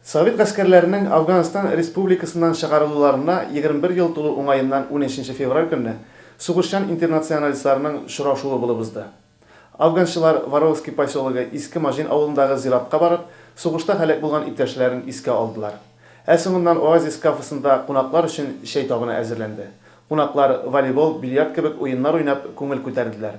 Совет гаскәрләренең Әфганстан республикасыннан чыгарылуларына егерме бер ел тулу уңаеннан унөченче февраль көнне сугышчан интернационалистларның шорашуы булып узды. Әфганчылар Воровский поселогы Иске Маҗин авылындагы зиратка барып, сугышта һәлак булган иптәшләрен искә алдылар. Ә соңыннан Оазис кафесында кунаклар өчен чәй табыны әзерләнде. Кунаклар волейбол, бильярд кебек уеннар уйнап, күңел күтәрделәр.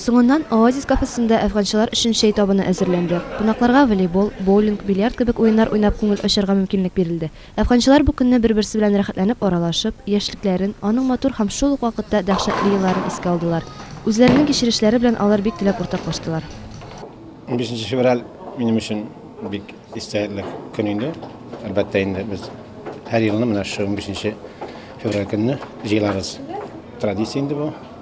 Соңыннан Оазис кафесында әфганчылар өчен чәй табыны әзерләнде. Кунакларга волейбол, боулинг, бильярд кебек уеннар уйнап күңел ачарга мөмкинлек бирелде. Әфганчылар бу көнне бер-берсе белән рәхәтләнеп аралашып, яшьлекләрен, аның матур һәм шул ук вакытта дәһшәтле елларын искә алдылар. Үзләренең кичерешләре белән алар бик теләп уртаклаштылар. Унбишенче февраль минем өчен бик истәлекле көн инде. Әлбәттә инде, без һәр елны менә шушы унбишенче февраль көнне җыелабыз. Традиция инде бу.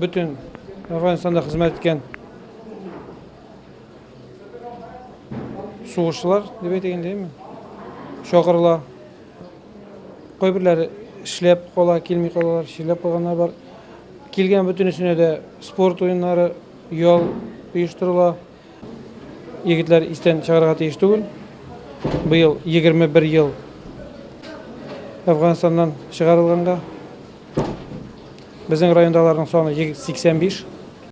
Бөтен Афганстанда хезмәт иткән сугышчылар дип әйтик инде, әйме? Чакырыла. Кайберләре эшләп кала, килми калалар, чирләп калганнар бар. Килгән бөтенесенә дә спорт уеннары, ял оештырыла. Егетләр истән чыгарга тиеш түгел. Быел 21 ел Әфганстаннан чыгарылганга. Безнең райондаларның саны 85.